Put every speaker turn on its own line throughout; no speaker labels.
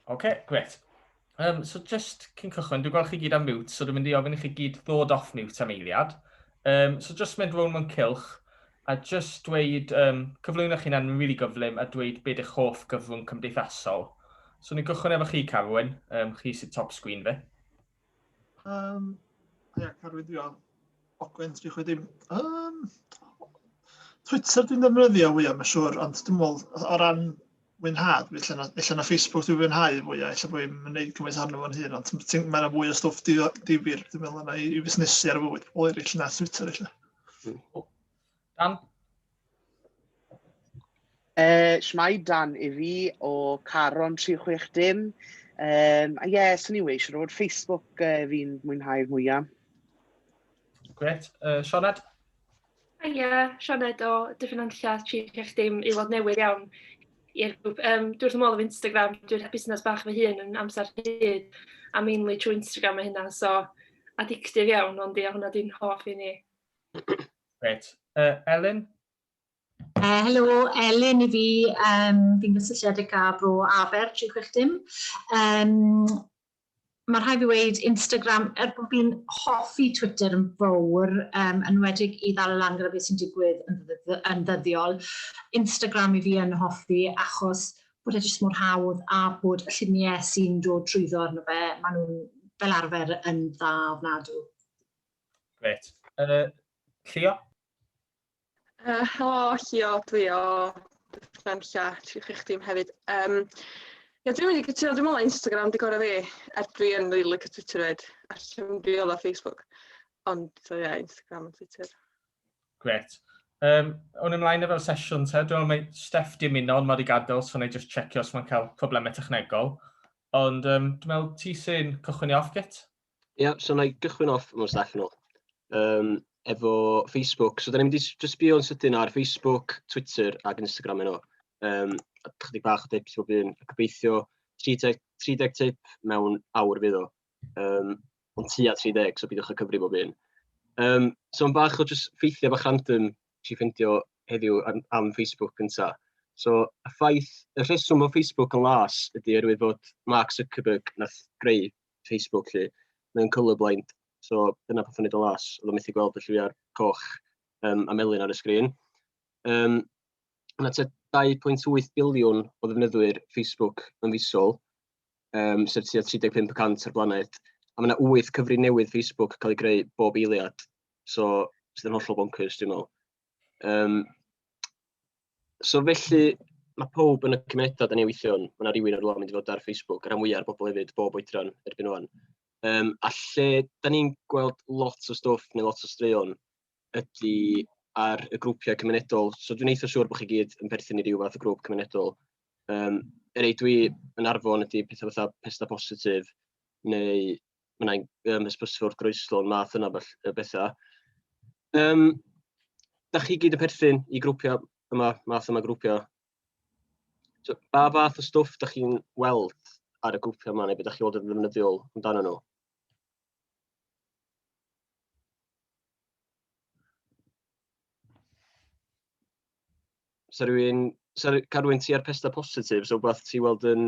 Oce, okay, gret. Um, so just cyn cychwyn, dwi'n gweld chi gyd am mute, so dwi'n mynd i ofyn i chi gyd ddod off mute am eiliad. Um, so just mynd rown mewn cilch, a just dweud, um, cyflwyno chi'n anwyn really gyflym, a dweud beth eich hoff gyflwng cymdeithasol. So ni'n gychwyn efo chi, Carwyn, um, chi sydd top sgwyn fe. Um,
ia, carwyddio Ogwen 360. Um, Twitter dwi'n defnyddio fwyaf, mae'n siŵr, ond dwi'n meddwl o ran mwynhad, felly na, felly na Facebook dwi'n fwynhau fwyaf, felly bod i'n gwneud cymaint arno fo'n hun, ond mae'n fwy o stwff difyr, dwi'n meddwl, yna i, i fusnesu ar y fywyd pobl eraill na Twitter, felly.
Dan?
Uh, Shmai Dan i fi o Caron 36 dim. Um, a ie, yeah, swn i'n weis, siwr fod Facebook uh, fi'n mwynhau'r mwyaf.
Gret. Uh, Sioned? Ie,
yeah, Sioned o Dyffryn Anlla 36 dim i weld newydd iawn i'r grŵp. Um, dwi wrth ymwneud efo Instagram, dwi'n rhaid busnes bach fy hun yn amser hyd, a mainly trwy Instagram mae hynna, so addictive iawn, ond ia, hwnna dwi'n hoff i ni. Reit.
Uh, Elin? Uh,
helo, Elin i fi. Um, fi'n gysylltiedig â bro Aber 360. Um, mae rhai fi wedi Instagram, er bod fi'n hoffi Twitter yn fawr, um, yn wedig i ddal y lan gyda beth sy'n digwydd yn, yn ddyddiol, Instagram i fi yn hoffi achos bod e jyst mor hawdd a bod y lluniau sy'n dod trwyddo arno fe, maen nhw'n fel arfer yn dda ofnadw.
Gret. Uh, Llio? Uh,
helo, Llio, dwi o Dyffryn Lla, tri chi chdi hefyd. Um, ia, dwi'n mynd i gytuno, dwi'n meddwl Instagram di gorau fi, er dwi yn rili like Twitter fyd, a llym di oedd o Facebook. Ond, so, ia, Instagram a Twitter. Gret.
Um, o'n ymlaen efo'r sesiwn te, dwi'n meddwl mae Steph di ymuno, ond mae wedi gadael, so na i just checio os mae'n cael problemau technegol. Ond um, dwi'n meddwl ti sy'n cychwyn i off git. Ia, so wna i
gychwyn off mewn stell nôl yym efo Facebook. So dan ni'n mynd i s- jyst sbïo yn sydyn ar Facebook, Twitter ac Instagram heno. Yym a chydig bach o dips bob un. Gobeithio 30 30 tip mewn awr fydd o. Yym ond tua 30, so peidiwch â cyfri bob un. Yym so am bach o jyst ffeithiau bach random wnes i ffeindio heddiw am am Facebook gynta. So y ffaith, y rheswm bod Facebook yn las ydy oherwydd bod Mark Zuckerberg wnaeth greu Facebook 'lly, mae o'n colourblind, so dyna peth o'n neud o las, oedd o'n methu gweld y lliwiau'r coch um, a melyn ar y sgrin. Um, Mae tua 2.8 biliwn o ddefnyddwyr Facebook yn fisol, um, sef tua 35% o'r blaned, a mae yna 8 cyfri newydd Facebook cael ei greu bob eiliad, so sydd yn hollol bonkers dwi'n meddwl. Yym, so felly ma' pawb yn y cymunedau dan ni'n weithio yn, ma' 'na rywun ar y law mynd i fod ar Facebook, y rhan fwya o'r bobl hefyd, bob oedran erbyn ŵan. Yym, a lle dan ni'n gweld lot o stwff neu lot o straeon ydy ar y grwpiau cymunedol. So dwi'n eitha siŵr bod chi gyd yn perthyn i ryw fath o grŵp cymunedol. Yym, y rhai dwi yn arfon ydy petha fatha Pesda Positif neu mae yna um, hysbysfwrdd wrth groeslon, math yna o bethau. Um, da chi gyd yn perthyn i grwpiau yma, math yma grwpiau. So, ba fath o stwff da chi'n weld ar y grwpiau yma, neu beth da chi'n weld yn ddefnyddiol amdano nhw? Sa rhywun, sa, rhywun ti ar pesta positif, so beth ti'n weld yn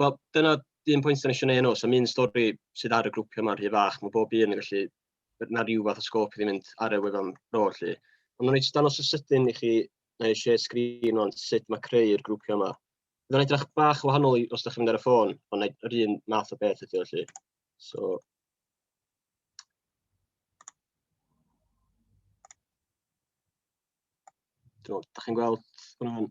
Wel, dyna un pwynt o'n eisiau gwneud nhw. So, un stori sydd ar y grwpiau yma'n rhy fach. Mae bob un yn gallu... na rhyw fath o sgôp i ddim mynd ar y wefan bro, felly. Ond o'n i jyst danos y sydyn i chi, na i share screen o'n sut mae creu'r grwpiau yma. Fydd o'n edrych bach o wahanol os ydych chi'n mynd ar y ffôn, ond yr un math o beth ydy o, felly. So, Dwi'n meddwl, da chi'n gweld hwnna'n...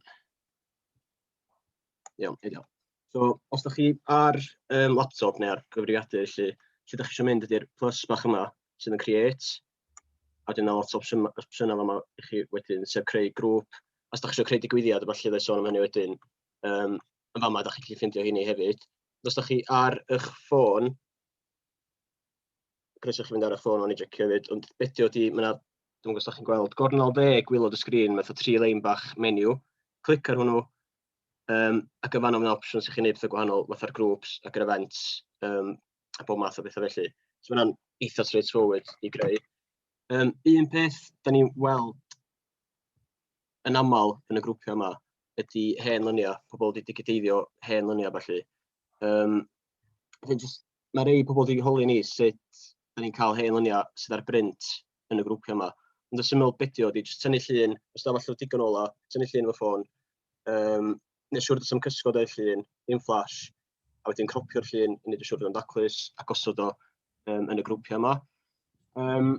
Iawn, ideal. So os da chi ar um, laptop neu ar gyfrifiadur, felly, lle da chi eisiau mynd ydy'r plus bach yma sydd yn create, a dyna lot o opsiynau yma i chi wedyn, sef creu grŵp, os da chi eisiau creu digwyddiad, a falle fe sôn am hynny wedyn, um, yn fama da chi'n gallu ffeindio hynny hefyd. Os da chi ar eich ffôn, Croeso chi fynd ar y ffôn o'n i jecio hefyd, ond beth di oeddi, mae yna, dwi'n gwybod os chi'n gweld, gornol dde gwylod y sgrin, mae fatha tri lein bach menu, clic ar hwnnw, um, ac yn fanno mae'n opsiwn sy'n chi'n gwneud pethau gwahanol, fatha'r groups ac yr events, um, a bob math o bethau felly. So mae yna'n eitha straightforward i greu. Um, un peth, da ni'n weld yn aml yn y grwpiau yma, ydy hen lyniau, pobl wedi digiteiddio hen lyniau felly. Um, Felly, jyst mae rhai pobl wedi holi ni sut da ni'n cael hen lyniau sydd ar brint yn y grwpiau yma. Ond y syml bidio ydy jyst tynnu llun, os da falle digon ola, tynnu llun fy ffôn, um, neu siwr dysam cysgod o'r llun, dim flash, a wedyn cropio'r llun i wneud y siwr dysam daclus a gosod o um, yn y grwpiau yma. Um,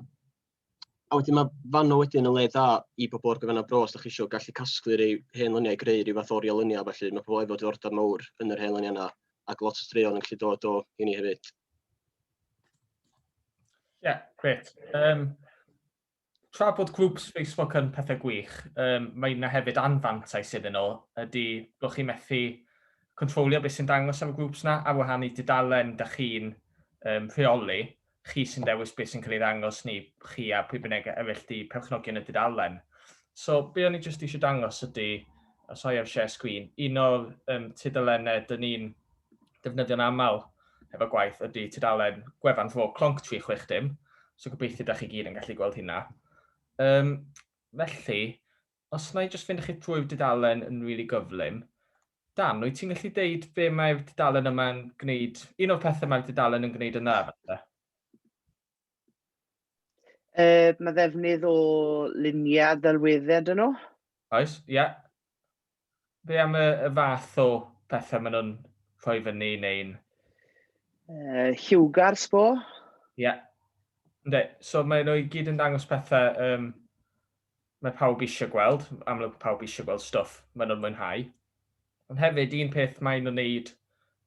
A wedyn mae fanno wedyn yn le dda i bobl ar gyfer yna bro os ydych chi eisiau gallu casglu rei hen luniau, greu rhyw fath o oriau luniau felly. Mae pobl efo diddordeb mawr yn yr hen luniau yna ac lot o straeon yn gallu dod o i ni hefyd.
Ie, yeah, gret. Um, tra bod grwps Facebook yn pethau gwych, um, mae yna hefyd anfantais iddyn nhw, ydy bod chi'n methu controlio beth sy'n dangos ar y grwps yna a wahanu dudalen da chi'n um, rheoli. chi sy'n dewis beth sy'n cael ei ddangos ni, chi a pwy bynnag a efell di perchnogion y dudalen. So, be o'n i jyst eisiau dangos ydy, a soi ar share screen, un o'r um, tudalennau dyn ni'n defnyddio'n aml efo gwaith ydy tudalen gwefan fro clonc 360, so gobeithio da chi gyd yn gallu gweld hynna. Um, felly, Os wna i jyst fynd â chi trwy'r dudalen yn rili gyflym. Dan, wyt ti'n gallu deud be mae'r dudalen yma'n gwneud, un o'r pethau mae'r dudalen yn gwneud yn dda falle?
Uh, mae ddefnydd o luniau ddelweddau dyn nhw. Oes, ie. Yeah.
Be am y, y fath o pethau maen nhw'n rhoi fyny neu'n... Uh, lliwgar,
sbo? Ie.
Yeah. Ynddi, so maen nhw i gyd yn dangos pethau um, Mae pawb eisiau gweld, amlwg mae pawb eisiau gweld stwff maen nhw'n mwynhau. Ond hefyd, un peth maen nhw'n wneud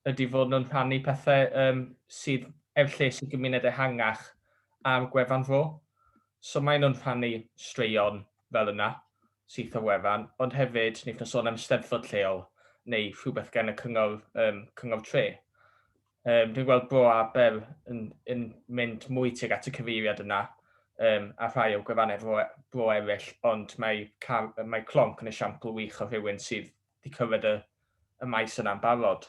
ydy fod nhw'n rhannu pethau um, sydd ef lles i gymuned ehangach ar gwefan fo. So maen nhw'n rhannu straeon fel yna syth o wefan, ond hefyd ni'n sôn am steddfod lleol neu rhywbeth gan y cyngor, um, cyngor tre. Um, dwi'n gweld Bro Abel yn, yn mynd mwy tuag at y cyfeiriad yna um, a rhai o gwefannau bro, bro eraill, ond mae, car, mae Clonc yn esiampl wych o rhywun sydd wedi cyrraedd y, y maes yna'n barod.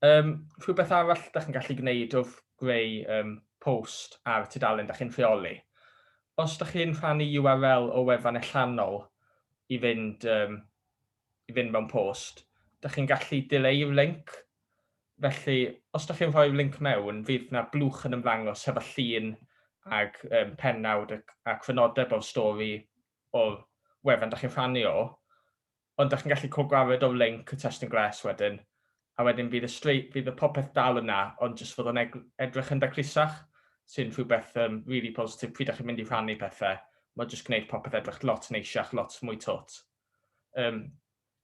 Um, rhywbeth arall da chi'n gallu gwneud wrth greu um, post ar tudalen da chi'n rheoli. Os da chi'n rhannu URL o wefan allanol i fynd um, i fynd mewn post, dych chi'n gallu dileu'r linc. Felly, os dych chi'n rhoi'r linc mewn, fydd na blwch yn ymddangos hefo llun ac um, pennawd ac, ac fynodeb o'r stori o'r wefan dych chi'n rhannu o. Ond dych chi'n gallu cogwared o'r linc y testyn gles wedyn, a wedyn fydd y, straight, fydd y popeth dal yna, ond jyst fod o'n edrych yn daclusach, sy'n rhywbeth um, really positif pryd ydych chi'n mynd i rhannu pethau. Mae'n jyst gwneud popeth edrych lot neisiach, lot mwy tot. Um,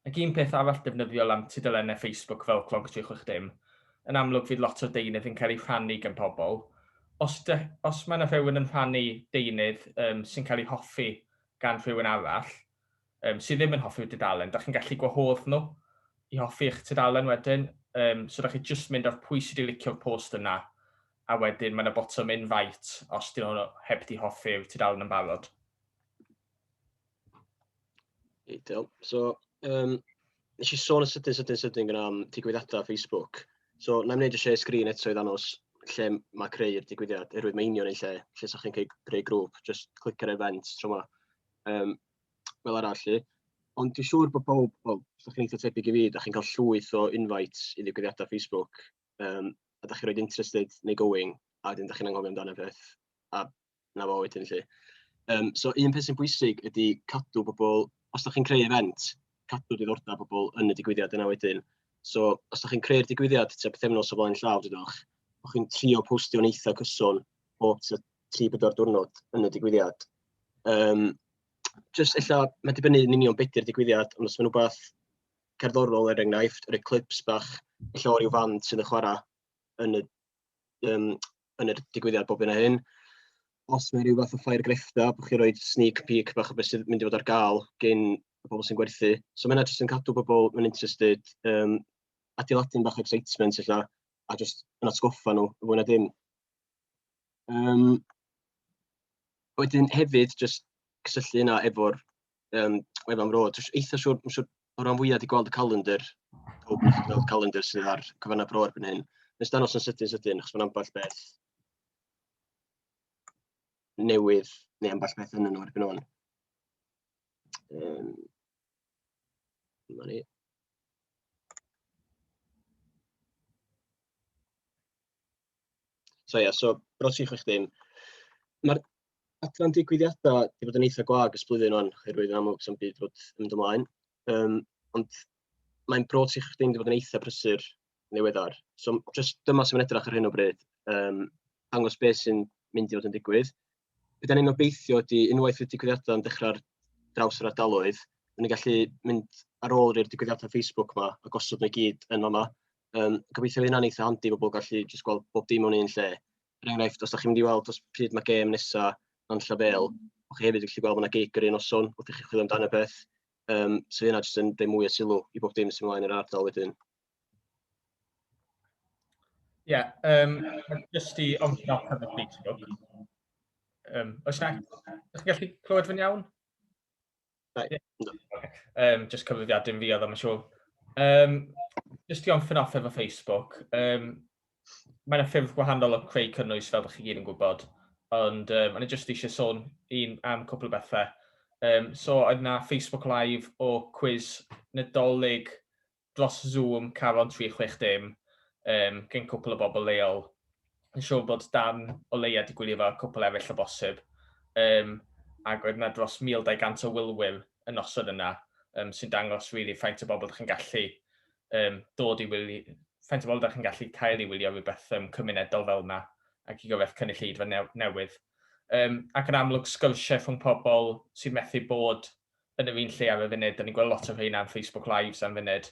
ac un peth arall defnyddiol am tudalennau Facebook fel Clonc 360, yn amlwg fydd lot o deunydd yn cael ei rhannu gan pobl. Os, de, os mae yna rhywun yn rhannu deunydd um, sy'n cael ei hoffi gan rhywun arall, um, sydd ddim yn hoffi'r dudalen, da chi'n gallu gwahodd nhw i hoffi eich tudalen wedyn. Um, so da chi jyst mynd ar pwy sydd wedi licio'r post yna, a wedyn mae yna botwm invite os dyn nhw heb di hoffi'r tudalen yn barod.
Ideal. So yym wnes i sôn yn sydyn, sydyn, sydyn gyda am digwyddiadau Facebook. So na i'n gwneud y share sgrin eto i ddangos lle mae creu'r digwyddiad, erwydd mae union yn lle, lle sa'ch chi'n creu, creu grŵp, just clic ar event tro yma. Um, fel arall i. Ond dwi'n siŵr bod pob, wel, sa'ch chi'n eitha tebyg i fi, da chi'n cael llwyth o invites i ddigwyddiadau Facebook, um, a da chi'n rhoi interested neu going, a dyn da chi'n anghofio amdano beth, a 'na fo wedyn 'lly. Yym so un peth sy'n bwysig ydy cadw pobl, os dach chi'n creu event, cadw diddordeb pobl yn y digwyddiad yna wedyn. So os dach chi'n creu'r digwyddiad tua pythefnos o flaen llaw dydwch, bo' chi'n trio postio'n eitha cyson bob tua 3-4 diwrnod yn y digwyddiad. Yym jyst ella mae'n dibynnu yn union be' 'di'r digwyddiad, ond os mae'n rhywbeth cerddorol er enghraifft, rhoi clips bach ella o ryw fand sydd yn chwarae yn y yym yn yr digwyddiad bob hyn a hyn. Os mae rhyw fath o ffair grefftau, bod chi'n rhoi sneak peek bach o beth sydd mynd i fod ar gael gyn y bobl sy'n gwerthu. So mae yna jyst yn cadw bobl yn interested, um, adeiladu'n bach excitement illa, a jyst yn atgoffa nhw, fwy na dim. Um, wedyn hefyd, jyst cysylltu yna efo'r Yym efo am road. Dwi'n eitha siŵr, dwi'n siŵr o ran fwyaf wedi gweld y calendr, pob wedi gweld y calendr sydd ar cyfannau bro erbyn hyn. Nes danos yn sydyn sydyn, achos mae'n ambell beth newydd, neu ambell beth yn nhw erbyn hwn. Um, ni. So ia, so Bro 360. Mae'r adran digwyddiadau wedi bod yn eitha gwag ys blwyddyn o'n, oherwydd yn amlwg sy'n byd fod yn mynd ymlaen. Um, ond mae'n Bro 360 wedi bod yn eitha prysur newyddar. So just dyma sy'n edrych ar hyn o bryd, um, dangos beth sy'n mynd i fod yn digwydd. Be da ni'n obeithio ydy, unwaith y digwyddiadau yn dechrau'r draws yr ardaloedd, ni'n gallu mynd ar ôl i'r digwyddiadau Facebook yma a gosod nhw i gyd yn yma. Yym, gobeithio fydd hynna'n eitha handi i bobl gallu jyst gweld bob dim mewn un lle. Er enghraifft, os da chi'n mynd i weld os pryd mae gêm nesa yn Llafel, o chi hefyd yn gallu gweld bod yna gig yr un noson wrth i chi chwilio amdano peth. Um, so yna jyst yn rhoi mwy o sylw i bob dim sy'n ymlaen yr ardal wedyn.
Ie, yeah, um, jyst i ond na pan ydych chi'n siarad. Um, oes na, ydych chi'n gallu clywed fy'n iawn? Um, just cyfrifiad dim fi oedd am y siw. Um, just i o'n ffyn off efo Facebook, um, mae yna ffyrdd gwahanol o creu cynnwys fel ydych chi gyd yn gwybod, ond um, ond just eisiau sôn un am cwpl o bethau. Um, so oedd yna Facebook Live o cwiz Nadolig dros Zoom, Caron 360, yym, gen cwpl o bobl leol. Yn siŵr bod Dan o leia 'di gwylio fo a cwpl eraill o bosib. Yym, ac oedd 'na dros 1,200 o wylwyr y noson yna, yym, sy'n dangos rili faint o bobl 'dach chi'n gallu yym dod i wylio, faint o bobl 'dach chi'n gallu cael i wylio rywbeth yym cymunedol fel 'na ac i gyfaill cynulleidfa newydd. Yym, ac yn amlwg sgyrsiau rhwng pobl sydd methu bod yn yr un lle am y funud, da ni'n gweld lot o rheina am Facebook Lives am funud,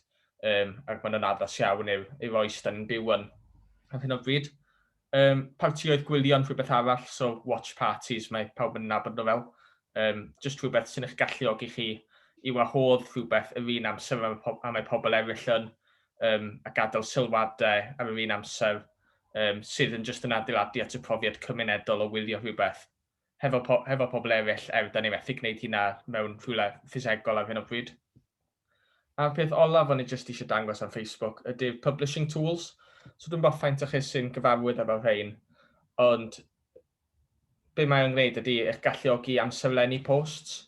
um, ac mae'n addas iawn i'r, i'r oes da ni'n byw yn ar hyn o bryd. Um, partioedd gwylio'n rhywbeth arall, so watch parties, mae pawb yn nabod nhw fel. Um, just rhywbeth sy'n eich galluogi chi i wahodd rhywbeth yr un amser am, am y pobl eraill yn, um, a gadael sylwadau ar yr un amser, um, sydd yn just yn adeiladu at y profiad cymunedol o wylio rhywbeth. hefo po- hefo pobl eraill er 'dan ni methu gwneud hynna mewn rhywle ffisegol ar hyn o bryd. A'r peth olaf o'n i jyst eisiau dangos ar Facebook ydy'r publishing tools. So dwi'n gwybod faint o chi sy'n gyfarwydd efo rhain, ond be mae'n gwneud ydy eich galluogi amserlenni posts.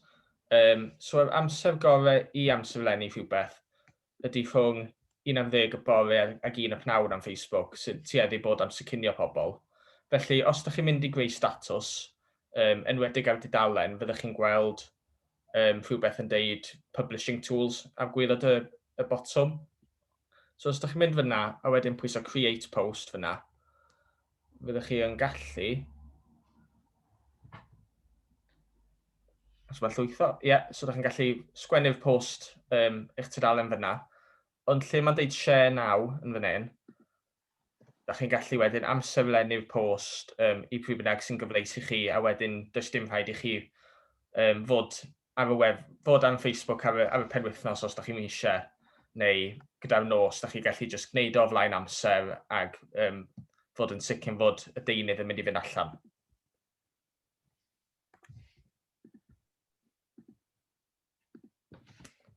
Um, so yr amser gorau i amserlenni rhywbeth ydy rhwng un am ddeg y bore ag un y pnawn am Facebook sy'n tueddu bod am sicynio pobl. Felly os dych chi'n mynd i greu statws, um, enwedig ar dudalen, fyddwch chi'n gweld um, rhywbeth yn deud Publishing Tools ar gwylod y, y botwm. So os dych chi'n mynd fyna a wedyn pwyso Create Post fyna, fyddwch chi yn gallu Os mae llwytho, ie, yeah, so ydych chi'n gallu sgwennu'r post um, eich tudalen fyna. Ond lle mae'n deud share now yn fan hyn, da chi'n gallu wedyn amserlennu'r post um, i pryd bynnag sy'n gyfleus i chi, a wedyn does dim rhaid i chi um, fod ar y web, fod ar Facebook ar y, ar y penwythnos os da chi'n eisiau, neu gyda'r nos, da chi'n gallu just gwneud o flaen amser ag um, fod yn sicr fod y deunydd yn mynd i fynd allan.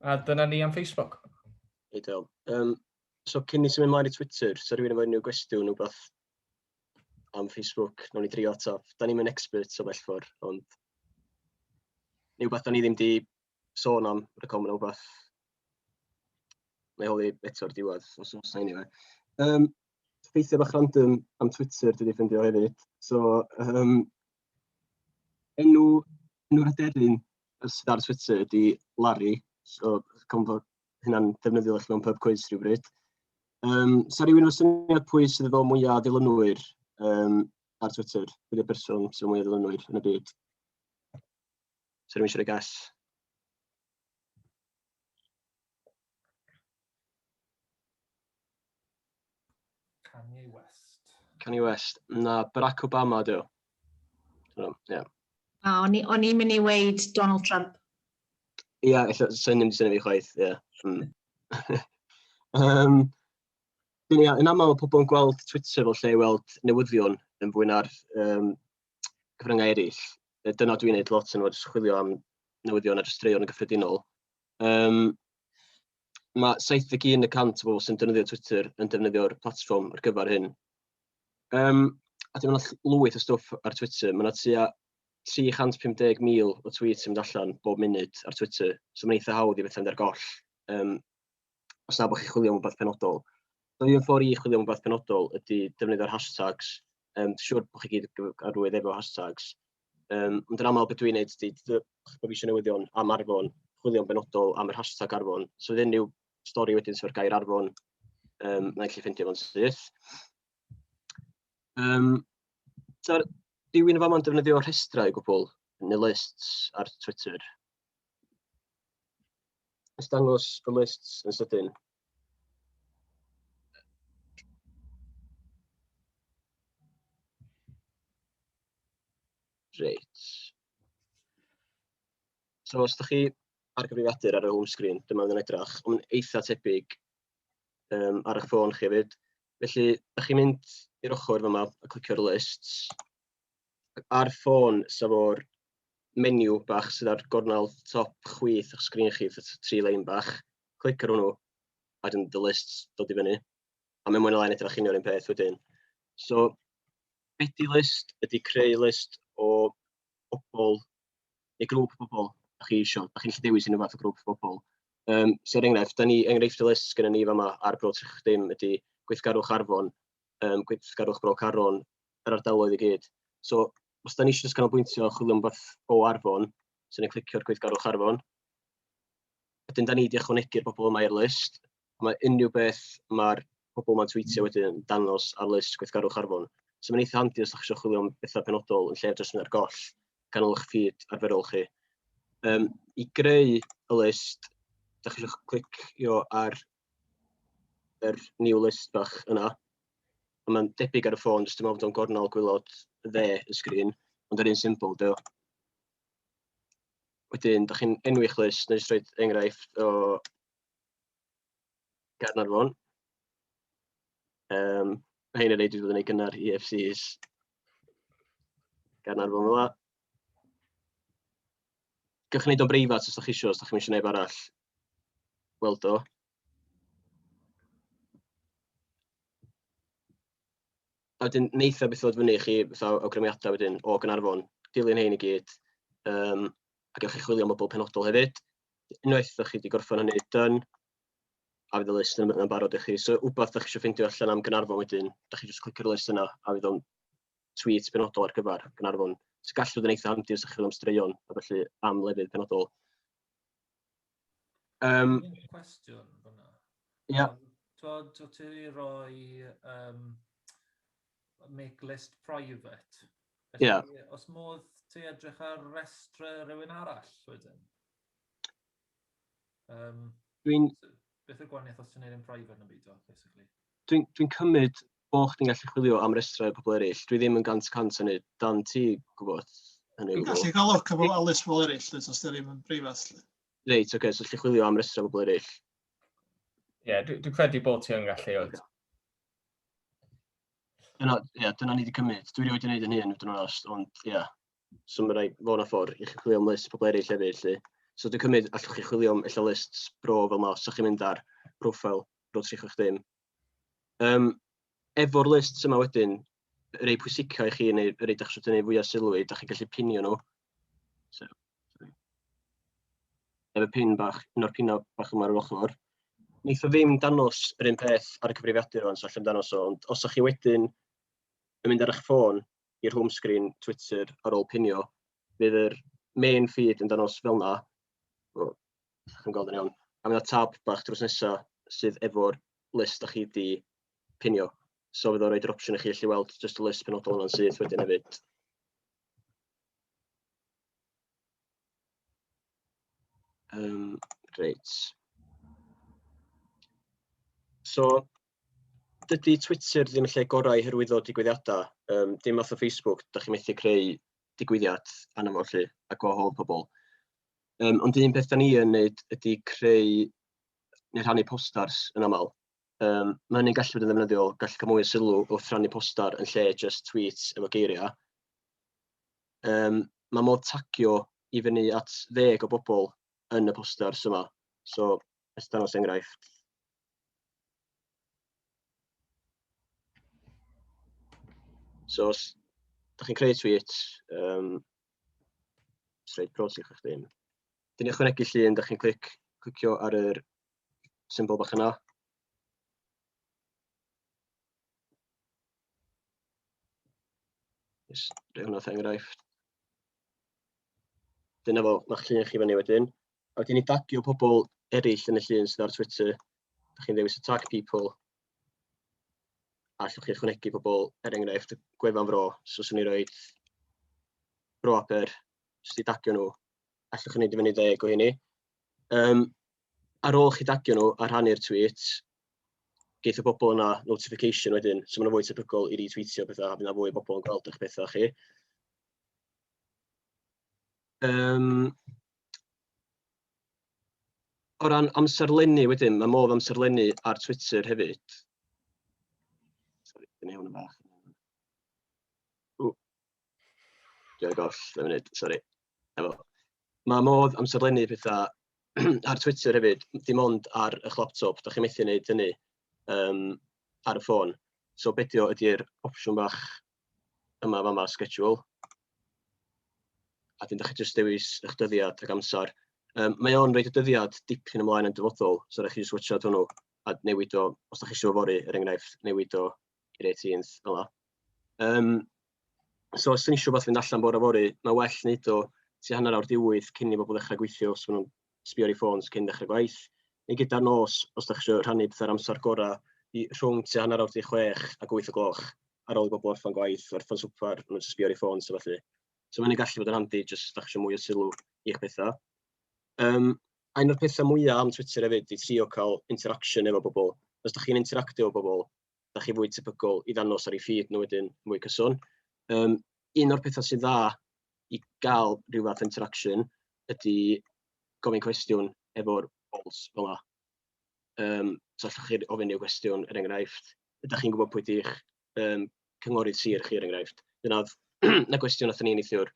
A dyna ni am Facebook. Ideal.
Um, so cyn ni symud ymlaen i Twitter, so rhywun efo unrhyw gwestiwn neu beth am Facebook, nawn ni drio ataf. Da ni'n mynd expert o bell ffordd, ond neu beth da ni ddim di sôn am recom neu beth. Mae holi eto'r diwedd, os oes na unrhyw. Um, ffeithiau bach random am Twitter dwi 'di ffeindio hefyd. So yym enw enw'r aderyn sydd ar Twitter ydy Larry. So cofn bod hynna'n ddefnyddiol i chi mewn pub cwis rhywbryd. Yym, sa rhywun efo syniad pwy sydd efo mwya o ddilynwyr yym, ar Twitter? Pwy ydy'r person sydd efo mwya o ddilynwyr yn y byd? Sa rhywun eisiau rhoi gas? Kanye West. Kanye West. Na, Barack Obama dw. Ie. Yeah. A
o'n i'n mynd i weid Donald Trump. Ie,
yeah, illa, sy'n ddim sy'n fi chwaith, ie. Yeah. Mm. um, ia, yn aml mae pobl yn gweld Twitter fel lle i weld newyddion yn fwy na'r um, cyfryngau eraill. Dyna dwi'n gwneud lot yn fod chwilio am newyddion a jyst yn gyffredinol. Yym ma' 71 y cant o bobl sy'n defnyddio Twitter yn defnyddio'r platfform ar gyfer hyn. Yym a dyma 'na ll- lwyth o stwff ar Twitter. Ma' 'na tua 350,000 o tweets yn mynd allan bob munud ar Twitter, so ma'n eitha hawdd i fynd ar goll. Yym. os na bod chi'n chwilio am rhywbeth penodol. So un ffordd i chwilio am rhywbeth penodol ydy defnyddio'r hashtags. Um, siwr bod chi gyd arwydd efo hashtags. Um, ond yn aml beth dwi'n neud ydy, bod fi eisiau newyddion am arfon, chwilio'n benodol am yr hashtag arfon. So fydd unrhyw stori wedyn sy'n gair arfon, um, na i chi ffeindio fo'n syth. Um, so, rhywun yn fama'n defnyddio rhestrau gwbl, neu lists ar Twitter. Let's dangos y lists yn sydyn. Reit. So os ydych chi ar gyfrifiadur ar y home screen, dyma fydd yn edrach, ond eitha tebyg um, ar eich ffôn chi hefyd. Felly, ydych chi'n mynd i'r ochr fyma a clicio'r lists, ar ffôn, sef o'r menu bach sydd ar gornel top chwith o'ch sgrin chi, fatha t- tri lein bach, clic ar hwnnw, a wedyn dy list dod i fyny. A mae mwy na lai'n edrych union un peth wedyn. So, be di list? Ydy creu list o bobl, neu grŵp o bobl, da chi eisiau, da chi'n gallu dewis unrhyw fath o grŵp o bobl. Um, so, er enghraifft, da ni enghraifft y list gyda ni fama ar Bro Trech Dim ydy gweithgarwch Arfon, um, gweithgarwch Bro Caron, yr ardaloedd i gyd. So, os da ni eisiau canolbwyntio a chwilio am beth o Arfon, so ni'n clicio'r gweithgarwch Arfon. Wedyn, da ni wedi ychwanegu'r bobl yma i'r list. Mae unrhyw beth mae'r pobl yma'n tweetio wedyn yn dangos ar list gweithgarwch Arfon. So mae'n eitha handi os ydych chi'n chwilio am bethau penodol yn lle'r jyst ar goll ganol eich ffid arferol chi. Um, I greu y list, da chi eisiau clicio ar yr new list bach yna. A mae'n debyg ar y ffôn, jyst yn meddwl bod o'n gornel gwylod dde y sgrin, ond yr un symbol dio. Wedyn, da chi'n enwi'ch list, neu jyst rhoi enghraifft o Gaernarfon. Um, mae hyn yn ei dwi wedi gynnar i EFCs gan arfon fel yna. Gwych wneud o'n breifat os ydych chi eisiau, os ydych chi'n eisiau neb arall Weld o. A wedyn wneith o beth ddod fyny i chi fatha awgrymiadau wedyn o Gynarfon, dilyn hein i gyd, um, a gewch chi chwilio am bobl penodol hefyd. Unwaith ydych chi wedi gorffen hynny, dyn, a fydd y list yn ymwneud barod i chi. So, wbeth ydych chi eisiau ffeindio allan am Gynarfon wedyn, ydych chi jyst clicio'r list yna, a fydd o'n tweet penodol ar gyfer Gynarfon. So, gallu bod yn eitha handi os ydych chi'n am straeon, a felly am lefydd penodol. Um,
cwestiwn fyna. Ia.
Twod, to
ti roi um, make list private. Felly, yeah.
Os modd
ti edrych ar restr rhywun arall wedyn. Um, Dwi'n... Beth yw'r gwahaniaeth os ti'n neud e'n private na beidio, basically? Dwi'n dwi'n cymryd
bo' chdi'n gallu chwilio am restrau i pobl eraill. Dwi ddim yn gant cant yn neud dan ti gwybod hynny o Dwi'n gallu cael look am
a list pobl eraill, os os ddim yn breifat. lly. Reit, oce, so
gallu chwilio am restrau pobl eraill.
Ie, dwi, dwi credu bod ti yn gallu. Oce.
Dyna, ie, dyna ni wedi cymryd. Dwi wedi wneud yn hyn, dwi'n onest, ond ie. So mae'n rhaid fod yna ffordd i chi chwilio am list pobl eraill hefyd 'lly. So dwi'n cymryd allwch chi chwilio am ella list bro fel yma os ydych chi'n mynd ar profile bro 360. Um, efo'r list yma wedyn, rei pwysica i chi neu rei dach chi'n tynnu fwyaf sylw i, dach chi'n gallu pinio nhw. So, sorry. Efo pin bach, un o'r pinau bach yma ar yr ochr. Nid o ddim danos yr un peth ar y cyfrifiadur o'n so allan danos o, ond os ydych chi wedyn yn mynd ar eich ffôn, i'r home screen Twitter ar ôl pinio, bydd yr main feed yn danos fel yna. O, chi'n gweld yn iawn. A mae yna tab bach drws nesa sydd efo'r list da chi wedi pinio. So fydd o'n rhoi'r opsiwn i chi allu weld just y list penodol yna'n syth wedyn hefyd. Um, reit. So, dydy Twitter ddim yn lle gorau i hyrwyddo digwyddiadau. Um, dim fath o Facebook, da chi methu creu digwyddiad anna fo lle a gwahodd pobl. Um, ond un peth da ni yn wneud ydy creu neu rhannu posters yn aml. Um, mae hynny'n gallu bod yn ddefnyddiol, gallu cael mwy o sylw wrth rhannu poster yn lle just tweets efo geiriau. Um, mae modd tagio i fyny at ddeg o bobl yn y posters yma. So, Os dangos enghraifft. So os da chi'n creu tweet, um, sreid pros i chi chdi. Dyn ni ychwanegu llun, da chi'n clic, clicio ar yr symbol bach yna. Yes, rhaid hwnna enghraifft. Dyna fo, mae'ch llun chi fyny wedyn. A wedyn i dagio pobl eraill yn y llun sydd ar Twitter, da chi'n ddewis y tag people, a allwch chi ychwanegu pobl, er enghraifft, gwefan fro, so swn i roi bro aper, sydd wedi dagio nhw, allwch chi wneud i fyny ddeg o hynny. Um, ar ôl chi dagio nhw a rhannu'r tweet, geith y bobl yna notification wedyn, so maen nhw'n fwy tebygol i retweetio pethau, a fydd fwy o bobl yn gweld eich pethau chi. Um, O ran amserlennu wedyn, mae modd amserlennu ar Twitter hefyd. Sori, dyna hwn yn fach. Dwi'n goll, dwi'n munud, sori. Efo. Mae modd amserlennu pethau ar Twitter hefyd, dim ond ar y laptop, da chi'n methu wneud hynny um, ar y ffôn. So bedio ydy'r opsiwn bach yma fama schedule a dyn ydych chi jyst dewis eich dyddiad ac amser. Um, mae o'n rhaid y dyddiad dipyn ymlaen yn dyfodol, so rhaid chi jyst wytio hwnnw a newid o, os ydych chi eisiau fori, er enghraifft, newid o i'r 18th fel Um, so os ydych chi eisiau beth fynd allan bore fori, mae well wneud o ti hanner awr diwydd cyn i bobl ddechrau gweithio os maen nhw'n sbio ar ei ffôns cyn dechrau gwaith, neu gyda'r nos os dach chi eisiau rhannu petha'r amser gorau i rhwng tua hanner awr 16 ac 8 o gloch ar ôl i bobl orffen gwaith, orffen swper, maen nhw'n jyst sbio ar eu ffôns a felly. So mae'n gallu bod yn handi jyst os dach chi eisiau mwy o sylw i'ch pethau. Um, a un o'r pethau mwyaf am Twitter hefyd i trio cael interaction efo bobl. Os ydych chi'n interactio efo bobl, da chi fwy tebygol i ddanos ar ei ffîd nhw wedyn mwy cyson. Um, un o'r pethau sy'n dda i gael rhyw fath interaction ydy gofyn cwestiwn efo'r bols fel yna. Um, so allwch chi ofyn i'w gwestiwn, er enghraifft, ydych chi'n gwybod pwy ydych um, cynghorydd sir chi, er enghraifft. Dyna na gwestiwn nath ni neithiwr.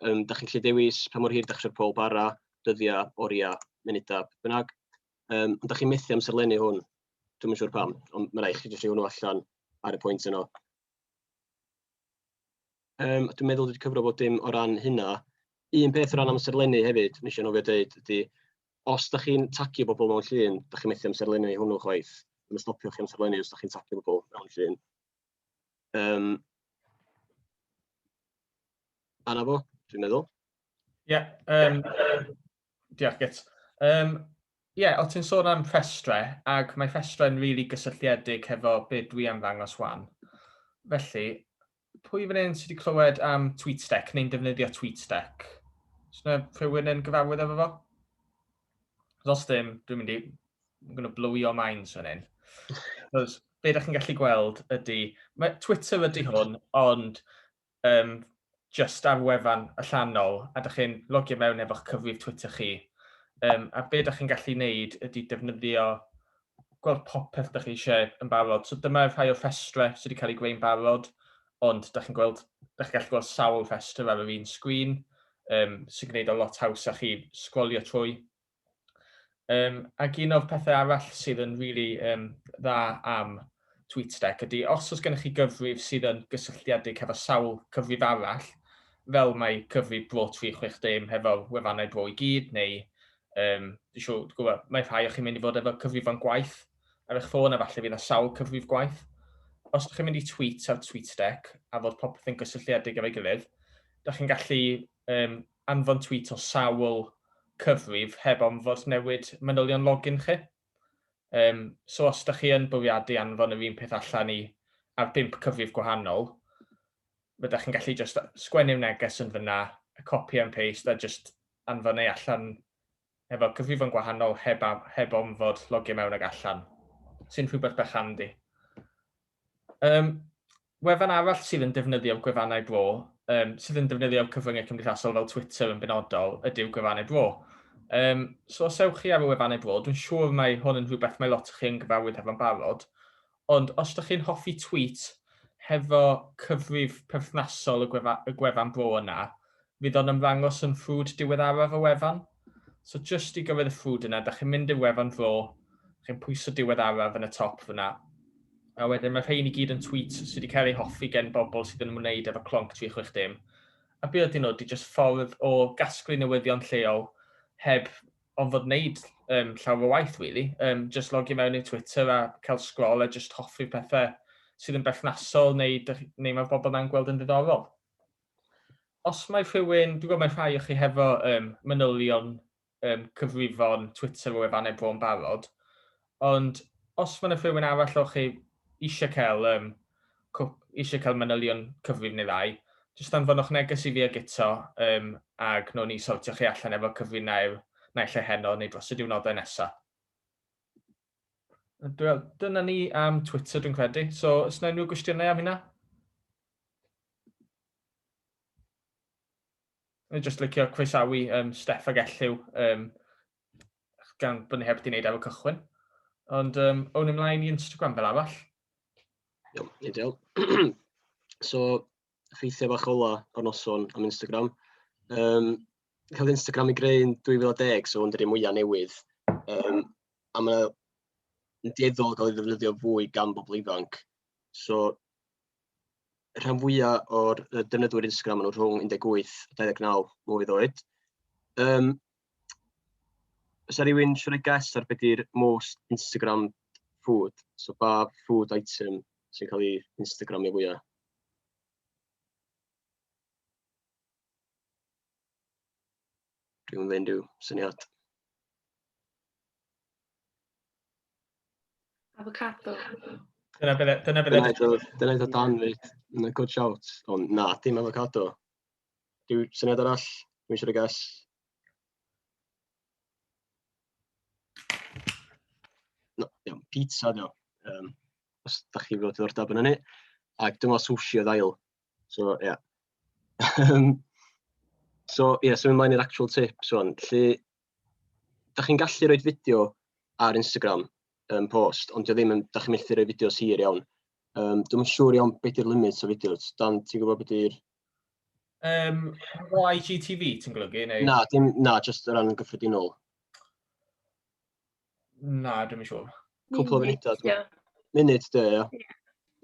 Um, da chi'n lle dewis pa mor hir da chi'n pob bara, dyddiau, oriau, munudau, bynnag. Um, ond da chi'n methu amserlennu hwn. Dwi'n siŵr pam, ond mae'n rhaid chi jyst rhoi hwnnw allan ar y pwynt yno. Um, dwi'n meddwl wedi cyfro bod dim o ran hynna. Un peth o ran amserlennu hefyd, nes i'n ofio dweud, ydy, os da chi'n tagio bobl mewn llun, da chi'n methu amserlennu hwnnw chwaith. Mae'n stopio chi amserlennu os da chi'n tagio bobl mewn llun. Um, Anna fo, dwi'n meddwl. Ie, yeah,
um, Diolch, Gyt. Um, Ie, yeah, o ti'n sôn am rhestrau, ac mae rhestrau'n rili really gysylltiedig hefo beth dwi am ddangos wan. Felly, pwy fan hyn sydd wedi clywed am TweetStack neu'n defnyddio TweetStack? Os yna rhywun yn gyfarwydd efo fo? Os dim, dwi'n mynd i... I'm going to blow your minds fan hyn. Cos be da chi'n gallu gweld ydy... Mae Twitter ydy hwn, ond Yym, jyst ar wefan allanol, a dych chi'n logio mewn efo'ch cyfrif Twitter chi, yym, a be dych chi'n gallu wneud ydy defnyddio, gweld popeth dych chi eisiau yn barod. So dyma rhai o'r rhestrau sydd wedi cael eu gwneud yn barod, ond dych chi'n gweld, dych chi'n gallu gweld sawl rhestr ar yr un sgrin, yym, sy'n gwneud o lot haws a chi sgrolio trwy. Um, ac un o'r pethau arall sydd yn really um, dda am TweetDeck ydy os oes gennych chi gyfrif sydd yn gysylltiedig hefo sawl cyfrif arall, fel mae cyfrif Bro 360 hefo wefannau bro i gyd, neu um, siw, gwybod, mae rhai o chi'n mynd i fod efo cyfrifon gwaith ar eich ffôn a falle fydd y sawl cyfrif gwaith. Os ydych chi'n mynd i tweet ar TweetDeck a fod popeth yn gysylltiedig efo'i gilydd, ydych chi'n gallu um, anfon tweet o sawl cyfrif heb orfod newid manylion login chi. Yym, so os ydych chi yn bwriadu anfon yr un peth allan i ar bump cyfrif gwahanol, rydych chi'n gallu jyst sgwennu'r neges yn fan'na, copi and paste a jyst anfon e allan efo cyfrifon gwahanol heb a heb ofn fod logio mewn ag allan, sy'n rhywbeth bach handi. Um, wefan arall sydd yn defnyddio gwefannau bro, um, sydd yn defnyddio cyfryngau cymdeithasol fel Twitter yn benodol, ydyw gwefannau bro. Um, so os ewch chi ar y wefannau bro, dwi'n siŵr mae hwn yn rhywbeth mae lot o chi yn gyfarwydd hefo'n barod, Ond os dych chi'n hoffi tweet hefo cyfrif perthnasol y gwefa- y gwefan bro yna fydd o'n ymddangos yn ffrwd diweddaraf y wefan. So jyst i gyrraedd y ffrwd yna dych chi'n mynd i'r wefan bro, chi'n pwyso diweddaraf yn y top fyna, a wedyn mae rhein i gyd yn tweet sydd wedi cael eu hoffi gen bobl sydd yn ymwneud efo Clonc 360. A be ydyn nhw? Ydy jyst ffordd o gasglu newyddion lleol heb ond fod wneud um, llawer o waith, really. Um, just logio mewn i'r Twitter a cael sgrol a just hoffi'r pethau sydd yn berthnasol neu, neu mae bobl na'n gweld yn ddiddorol. Os mae rhywun, dwi'n gwybod mae rhai o chi hefo um, manylion um, cyfrifon Twitter o efannau bro'n barod, Ond os mae 'na rhywun arall o chi eisiau cael yym cwp, eisiau cael manylion cyfrif neu ddau, jyst anfonwch neges i fi a Guto yym a gnawn ni sortio chi allan efo cyfrif naill naill ai heno neu dros y diwrnodau nesa. Wel, dyna ni am Twitter dwi'n credu. So, os yna unrhyw gwestiynau am hynna? O'n i jyst licio croesawu um, Steff ag Elliw um, gan bod ni heb di wneud efo cychwyn. Ond um, o'n ymlaen i Instagram fel arall. Iawn,
ideal. so, ffeithiau bach ola o'r noson am Instagram. Um, cael Instagram i greu yn 2010, so hwn dy'r mwyaf newydd. Um, a mae'n dieddol gael ei ddefnyddio fwy gan bobl ifanc. So, rhan fwyaf o'r defnyddwyr Instagram yn rhwng 18 a 29 mlynedd oed. Um, Oes 'na rywun isio roi guess ar be 'di'r most Instagrammed food? So pa food item sy'n cael ei Instagramio fwya? Rhywun efo unrhyw syniad? Avocado.
Dyna be dyna be...
Dyna un o dyna un o Dan 'fyd. Good shout, ond na, dim avocado. Rhyw syniad arall? Rwy'n eisiau rhoi gas. No, iawn, pizza dio. Um, os da chi fod diddordeb yn hynny. Ac dyma sushi o ddail. So, ie. Yeah. Um, so, ie, yeah, symud ymlaen i'r actual tips o'n. Lly, da chi'n gallu rhoi fideo ar Instagram um, post, ond dio ddim yn, da chi'n methu rhoi fideos hir iawn. Um, dwi'n siŵr iawn beth yw'r limit o fideos. Dan, ti'n gwybod beth yw'r Um, o
IGTV, ti'n golygu? Neu... Na, dim, na, just
o ran yn gyffredinol.
Na, dim yn siŵr. Cwpl o funudau.
Yeah. Munud, dy, ia. Ie,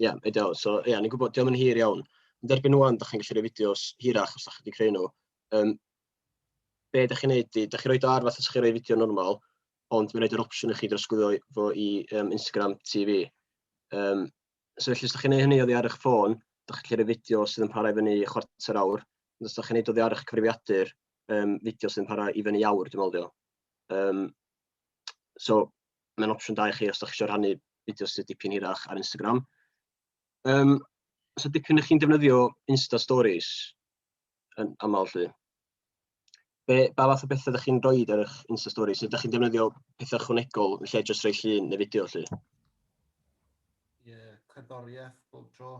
yeah, ideal. So, ie, yeah, ni'n gwybod, diolch yn hir iawn. Yn derbyn nhw da chi'n gallu rhoi fideos hirach os da chi wedi creu nhw. Um, be da chi'n neud, da chi'n rhoi do ar fath os chi'n rhoi fideo normal, ond mae'n rhaid yr opsiwn i chi drosglwyddo fo i um, Instagram TV. Um, so felly os ydych chi'n gwneud hynny oddi ar eich ffôn, ydych chi'n rhoi fideo sydd yn parhau fyny chwarter awr, ond os ydych chi'n gwneud oddi ar eich cyfrifiadur, um, fideo sydd yn parhau i fyny awr, dwi'n meddwl. Um, so, mae'n opsiwn da i chi os ydych chi eisiau rhannu fideo sydd dipyn hirach ar Instagram. Um, so, dipyn ydych chi'n defnyddio Insta Stories, yn aml 'lly. Be, ba fath o bethau ydych chi'n rhoi ar eich Insta Story? Sut ydych chi'n defnyddio pethau chwnegol yn lle jyst rhoi llun neu fideo 'lly? Ie, yeah,
cerddoriaeth bob tro.